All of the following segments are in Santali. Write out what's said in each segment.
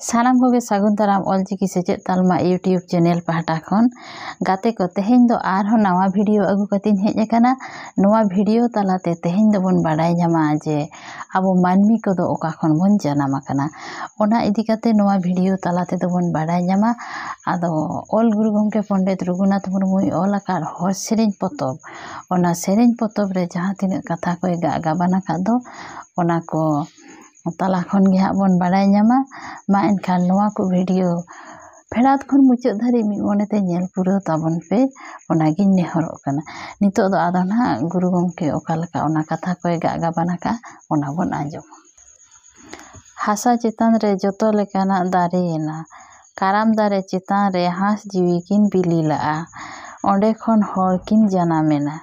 ᱥᱟᱱᱟᱢ ᱠᱚᱜᱮ ᱥᱟᱹᱜᱩᱱ ᱫᱟᱨᱟᱢ ᱚᱞᱪᱤᱠᱤ ᱥᱮᱪᱮᱫ ᱛᱟᱞᱢᱟ ᱤᱭᱩᱴᱤᱭᱩᱵᱽ ᱪᱮᱱᱮᱞ ᱯᱟᱦᱴᱟ ᱠᱷᱚᱱ ᱜᱟᱛᱮ ᱠᱚ ᱛᱮᱦᱮᱧ ᱫᱚ ᱟᱨᱦᱚᱸ ᱱᱟᱣᱟ ᱵᱷᱤᱰᱤᱭᱳ ᱟᱹᱜᱩ ᱠᱟᱛᱮᱧ ᱦᱮᱡ ᱟᱠᱟᱱᱟ ᱱᱚᱣᱟ ᱵᱷᱤᱰᱤᱭᱳ ᱛᱟᱞᱟᱛᱮ ᱛᱮᱦᱮᱧ ᱫᱚᱵᱚᱱ ᱵᱟᱰᱟᱭ ᱧᱟᱢᱟ ᱡᱮ ᱟᱵᱚ ᱢᱟᱹᱱᱢᱤ ᱠᱚᱫᱚ ᱚᱠᱟ ᱠᱷᱚᱱ ᱵᱚᱱ ᱡᱟᱱᱟᱢ ᱟᱠᱟᱱᱟ ᱚᱱᱟ ᱤᱫᱤ ᱠᱟᱛᱮ ᱱᱚᱣᱟ ᱵᱷᱤᱰᱤᱭᱳ ᱛᱟᱞᱟ ᱛᱮᱫᱚ ᱵᱚᱱ ᱵᱟᱰᱟᱭ ᱧᱟᱢᱟ ᱟᱫᱚ ᱚᱞ ᱜᱩᱨᱩ ᱜᱚᱢᱠᱮ ᱯᱚᱱᱰᱤᱛ ᱨᱚᱜᱷᱩᱱᱟᱛᱷ ᱢᱩᱨᱢᱩᱭ ᱚᱞ ᱟᱠᱟᱫ ᱦᱚᱲ ᱥᱮᱨᱮᱧ ᱯᱚᱛᱚᱵ ᱚᱱᱟ ᱥᱮᱨᱮᱧ ᱯᱚᱛᱚᱵ ᱨᱮ ᱡᱟᱦᱟᱸ ᱛᱤᱱᱟᱹᱜ ᱠᱟᱛᱷᱟ ᱠᱚᱭ ᱜᱟᱜ ᱜᱟᱵᱟᱱ ᱟᱠᱟᱫ ᱫᱚ ᱚᱱᱟ ᱠᱚ ᱛᱟᱞᱟ ᱠᱷᱚᱱ ᱜᱮ ᱦᱟᱸᱜ ᱵᱚᱱ ᱵᱟᱲᱟᱭ ᱧᱟᱢᱟ ᱢᱟ ᱮᱱᱠᱷᱟᱱ ᱱᱚᱣᱟ ᱠᱚ ᱵᱷᱤᱰᱤᱭᱳ ᱯᱷᱮᱰᱟᱛ ᱠᱷᱚᱱ ᱢᱩᱪᱟᱹᱫ ᱫᱷᱟᱹᱨᱤᱡ ᱢᱤᱫ ᱢᱚᱱᱮ ᱛᱮ ᱧᱮᱞ ᱯᱩᱨᱟᱹᱣ ᱛᱟᱵᱚᱱ ᱯᱮ ᱚᱱᱟᱜᱤᱧ ᱱᱮᱦᱚᱨᱚᱜ ᱠᱟᱱᱟ ᱱᱤᱛᱚᱜ ᱫᱚ ᱟᱫᱚ ᱱᱟᱦᱟᱜ ᱜᱩᱨᱩ ᱜᱚᱢᱠᱮ ᱚᱠᱟ ᱞᱮᱠᱟ ᱚᱱᱟ ᱠᱟᱛᱷᱟ ᱠᱚᱭ ᱜᱟᱜ ᱜᱟᱵᱟᱱ ᱟᱠᱟᱜᱼᱟ ᱚᱱᱟ ᱵᱚᱱ ᱟᱸᱡᱚᱢᱟ ᱦᱟᱥᱟ ᱪᱮᱛᱟᱱ ᱨᱮ ᱡᱚᱛᱚ ᱞᱮᱠᱟᱱᱟᱜ ᱫᱟᱨᱮᱭᱮᱱᱟ ᱠᱟᱨᱟᱢ ᱫᱟᱨᱮ ᱪᱮᱛᱟᱱ ᱨᱮ ᱦᱟᱸᱥ ᱡᱤᱣᱤ ᱠᱤᱱ ᱵᱤᱞᱤ ᱞᱟᱜᱼᱟ ᱚᱸᱰᱮ ᱠᱷᱚᱱ ᱦᱚᱲ ᱠᱤᱱ ᱡᱟᱱᱟᱢᱮᱱᱟ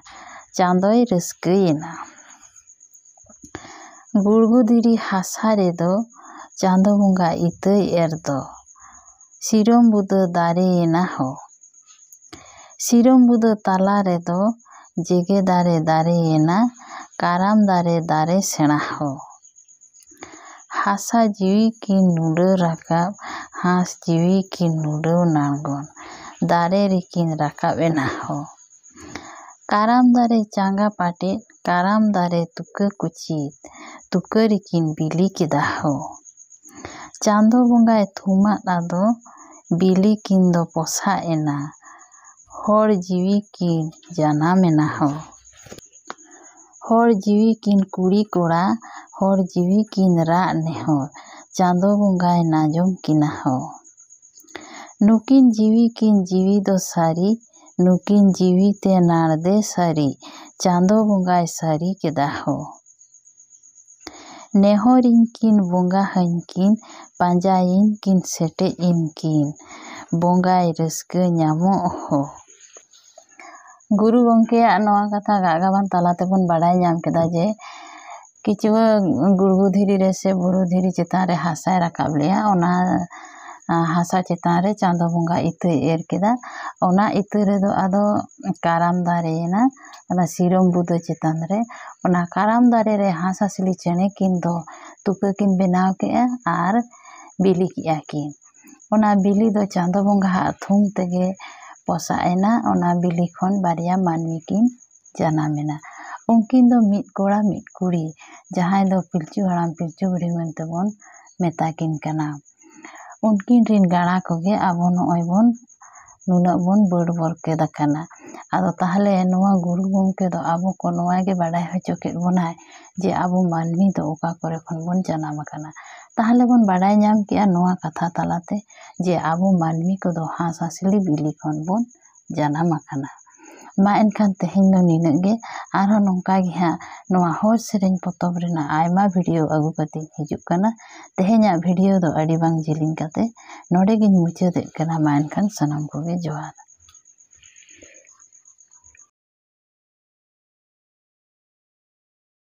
ᱪᱟᱸᱫᱚᱭ ᱨᱟᱹᱥᱠᱟᱹᱭᱮᱱᱟ ᱜᱩᱲᱜᱩ ᱫᱷᱤᱨᱤ ᱦᱟᱥᱟ ᱨᱮᱫᱚ ᱪᱟᱸᱫᱚ ᱵᱚᱸᱜᱟ ᱤᱛᱟᱹᱭ ᱮᱨ ᱫᱚ ᱥᱤᱨᱚᱢ ᱵᱩᱫᱟᱹ ᱫᱟᱨᱮᱭᱮᱱᱟ ᱦᱳ ᱥᱤᱨᱚᱢ ᱵᱩᱫᱟᱹ ᱛᱟᱞᱟ ᱨᱮᱫᱚ ᱡᱮᱜᱮ ᱫᱟᱨᱮ ᱫᱟᱨᱮᱭᱮᱱᱟ ᱠᱟᱨᱟᱢ ᱫᱟᱨᱮ ᱫᱟᱨᱮ ᱥᱮᱬᱟ ᱦᱳ ᱦᱟᱥᱟ ᱡᱤᱣᱤ ᱠᱤᱱ ᱱᱩᱰᱟᱹ ᱨᱟᱠᱟᱵ ᱦᱟᱸᱥ ᱡᱤᱣᱤ ᱠᱤᱱ ᱱᱩᱰᱟᱹ ᱱᱟᱲᱜᱚᱱ ᱫᱟᱨᱮ ᱨᱮᱠᱤᱱ ᱨᱟᱠᱟᱵ ᱮᱱᱟ ᱦᱳ ᱠᱟᱨᱟᱢ ᱫᱟᱨᱮ ᱪᱟᱸᱜᱟ ᱯᱟᱴᱮᱫ ᱠᱟᱨᱟᱢ ᱫᱟᱨᱮ ᱛᱩᱠᱟᱹ ᱠᱩᱪᱤ ᱛᱩᱠᱟᱹ ᱨᱮᱠᱤᱱ ᱵᱤᱞᱤ ᱠᱮᱫᱟ ᱦᱳ᱾ ᱪᱟᱸᱫᱚ ᱵᱚᱸᱜᱟᱭ ᱛᱷᱩᱢᱟᱫ ᱟᱫᱚ ᱵᱤᱞᱤ ᱠᱤᱱ ᱫᱚ ᱯᱚᱥᱟᱜ ᱮᱱᱟ ᱦᱚᱲ ᱡᱤᱣᱤ ᱠᱤᱱ ᱡᱟᱱᱟᱢ ᱮᱱᱟ ᱦᱳ᱾ ᱦᱚᱲ ᱡᱤᱣᱤ ᱠᱤᱱ ᱠᱩᱲᱤ ᱠᱚᱲᱟ ᱦᱚᱲ ᱡᱤᱣᱤ ᱠᱤᱱ ᱨᱟᱜ ᱱᱮᱦᱚᱨ ᱪᱟᱸᱫᱚ ᱵᱚᱸᱜᱟᱭ ᱱᱟᱡᱚᱢ ᱠᱤᱱᱟ ᱦᱳ᱾ ᱱᱩᱠᱤᱱ ᱡᱤᱣᱤ ᱠᱤᱱ ᱡᱤᱣᱤ ᱫᱚ ᱥᱟᱹᱨᱤ ᱱᱩᱠᱤᱱ ᱡᱤᱣᱤ ᱛᱮ ᱱᱟᱲᱫᱮ ᱥᱟᱹᱨᱤ ᱪᱟᱸᱫᱚ ᱵᱚᱸᱜᱟᱭ ᱥᱟᱹᱨᱤ ᱠᱮᱫᱟ ᱦᱳ᱾ ᱱᱮᱦᱚᱨ ᱤᱧ ᱠᱤᱱ ᱵᱚᱸᱜᱟ ᱦᱟᱹᱧ ᱠᱤᱱ ᱯᱟᱸᱡᱟᱭᱤᱧ ᱠᱤᱱ ᱥᱮᱴᱮᱡ ᱤᱧ ᱠᱤᱱ ᱵᱚᱸᱜᱟᱭ ᱨᱟᱹᱥᱠᱟᱹ ᱧᱟᱢᱚᱜ ᱦᱳ᱾ ᱜᱩᱨᱩ ᱜᱚᱢᱠᱮᱭᱟᱜ ᱱᱚᱣᱟ ᱠᱟᱛᱷᱟ ᱜᱟᱜ ᱜᱟᱵᱟᱱ ᱛᱟᱞᱟ ᱛᱮᱵᱚᱱ ᱵᱟᱰᱟᱭ ᱧᱟᱢ ᱠᱮᱫᱟ ᱡᱮ ᱠᱤᱪᱩᱣᱟᱹ ᱜᱩᱲᱜᱩ ᱫᱷᱤᱨᱤ ᱨᱮ ᱥᱮ ᱵᱩᱨᱩ ᱫᱷᱤᱨᱤ ᱪᱮᱛᱟᱱ ᱨᱮ ᱦᱟᱥᱟᱭ ᱨᱟᱠᱟᱵ ᱞᱮᱜᱼᱟ ᱚᱱᱟ ᱦᱟᱥᱟ ᱪᱮᱛᱟᱱ ᱨᱮ ᱪᱟᱸᱫᱚ ᱵᱚᱸᱜᱟ ᱤᱛᱟᱹᱭ ᱮᱨ ᱠᱮᱫᱟ ᱚᱱᱟ ᱤᱛᱟᱹ ᱨᱮᱫᱚ ᱟᱫᱚ ᱠᱟᱨᱟᱢ ᱫᱟᱨᱮᱭᱮᱱᱟ ᱚᱱᱟ ᱥᱤᱨᱚᱢ ᱵᱩᱫᱟᱹ ᱪᱮᱛᱟᱱ ᱨᱮ ᱚᱱᱟ ᱠᱟᱨᱟᱢ ᱫᱟᱨᱮ ᱨᱮ ᱦᱟᱸᱥᱼᱦᱟᱸᱥᱞᱤ ᱪᱮᱬᱮ ᱠᱤᱱ ᱫᱚ ᱛᱩᱠᱟᱹ ᱠᱤᱱ ᱵᱮᱱᱟᱣ ᱠᱮᱜᱼᱟ ᱟᱨ ᱵᱤᱞᱤ ᱠᱮᱜᱼᱟ ᱠᱤᱱ ᱚᱱᱟ ᱵᱤᱞᱤ ᱫᱚ ᱪᱟᱸᱫᱚ ᱵᱚᱸᱜᱟᱣᱟᱜ ᱛᱷᱩᱢ ᱛᱮᱜᱮ ᱯᱚᱥᱟᱜ ᱮᱱᱟ ᱚᱱᱟ ᱵᱤᱞᱤ ᱠᱷᱚᱱ ᱵᱟᱨᱭᱟ ᱢᱟᱹᱱᱢᱤ ᱠᱤᱱ ᱡᱟᱱᱟᱢ ᱮᱱᱟ ᱩᱱᱠᱤᱱ ᱫᱚ ᱢᱤᱫ ᱠᱚᱲᱟ ᱢᱤᱫ ᱠᱩᱲᱤ ᱡᱟᱦᱟᱸᱭ ᱫᱚ ᱯᱤᱞᱪᱩ ᱦᱟᱲᱟᱢ ᱯᱤᱞᱪᱩ ᱵᱩᱲᱦᱤ ᱢᱮᱱᱛᱮ ᱵᱚᱱ ᱢᱮᱛᱟ ᱠᱤᱱ ᱠᱟᱱᱟ ᱩᱱᱠᱤᱱ ᱨᱮᱱ ᱜᱟᱬᱟ ᱠᱚᱜᱮ ᱟᱵᱚ ᱱᱚᱜᱼᱚᱭ ᱵᱚᱱ ᱱᱩᱱᱟᱹᱜ ᱵᱚᱱ ᱵᱟᱹᱰ ᱵᱚᱨᱠᱮᱛ ᱟᱠᱟᱱᱟ ᱟᱫᱚ ᱛᱟᱦᱚᱞᱮ ᱱᱚᱣᱟ ᱜᱩᱨᱩ ᱜᱚᱢᱠᱮ ᱫᱚ ᱟᱵᱚ ᱠᱚ ᱱᱚᱣᱟ ᱜᱮ ᱵᱟᱰᱟᱭ ᱦᱚᱪᱚ ᱠᱮᱫ ᱵᱚᱱᱟᱭ ᱡᱮ ᱟᱵᱚ ᱢᱟᱹᱱᱢᱤ ᱫᱚ ᱚᱠᱟ ᱠᱚᱨᱮ ᱠᱷᱚᱱ ᱵᱚᱱ ᱡᱟᱱᱟᱢ ᱟᱠᱟᱱᱟ ᱛᱟᱦᱚᱞᱮ ᱵᱚᱱ ᱵᱟᱰᱟᱭ ᱧᱟᱢ ᱠᱮᱜᱼᱟ ᱱᱚᱣᱟ ᱠᱟᱛᱷᱟ ᱛᱟᱞᱟᱛᱮ ᱡᱮ ᱟᱵᱚ ᱢᱟᱹᱱᱢᱤ ᱠᱚᱫᱚ ᱦᱟᱸᱥᱼᱦᱟᱸᱥᱞᱤ ᱵᱤᱞᱤ ᱠᱷᱚᱱ ᱵᱚᱱ ᱡᱟᱱᱟᱢ ᱟᱠᱟᱱᱟ ᱢᱟ ᱮᱱᱠᱷᱟᱱ ᱛᱮᱦᱮᱧ ᱫᱚ ᱱᱤᱱᱟᱹᱜ ᱜᱮ ᱟᱨᱦᱚᱸ ᱱᱚᱝᱠᱟ ᱜᱮ ᱦᱟᱸᱜ ᱱᱚᱣᱟ ᱦᱚᱲ ᱥᱮᱨᱮᱧ ᱯᱚᱛᱚᱵ ᱨᱮᱱᱟᱜ ᱟᱭᱢᱟ ᱵᱷᱤᱰᱤᱭᱳ ᱟᱹᱜᱩ ᱠᱟᱛᱮᱧ ᱦᱤᱡᱩᱜ ᱠᱟᱱᱟ ᱛᱮᱦᱮᱧᱟᱜ ᱵᱷᱤᱰᱤᱭᱳ ᱫᱚ ᱟᱹᱰᱤ ᱵᱟᱝ ᱡᱤᱞᱤᱧ ᱠᱟᱛᱮ ᱱᱚᱰᱮ ᱜᱮᱧ ᱢᱩᱪᱟᱹᱫᱮᱫ ᱠᱟᱱᱟ ᱢᱟ ᱮᱱᱠᱷᱟᱱ ᱥᱟᱱᱟᱢ ᱠᱚᱜᱮ ᱡᱚᱦᱟᱨ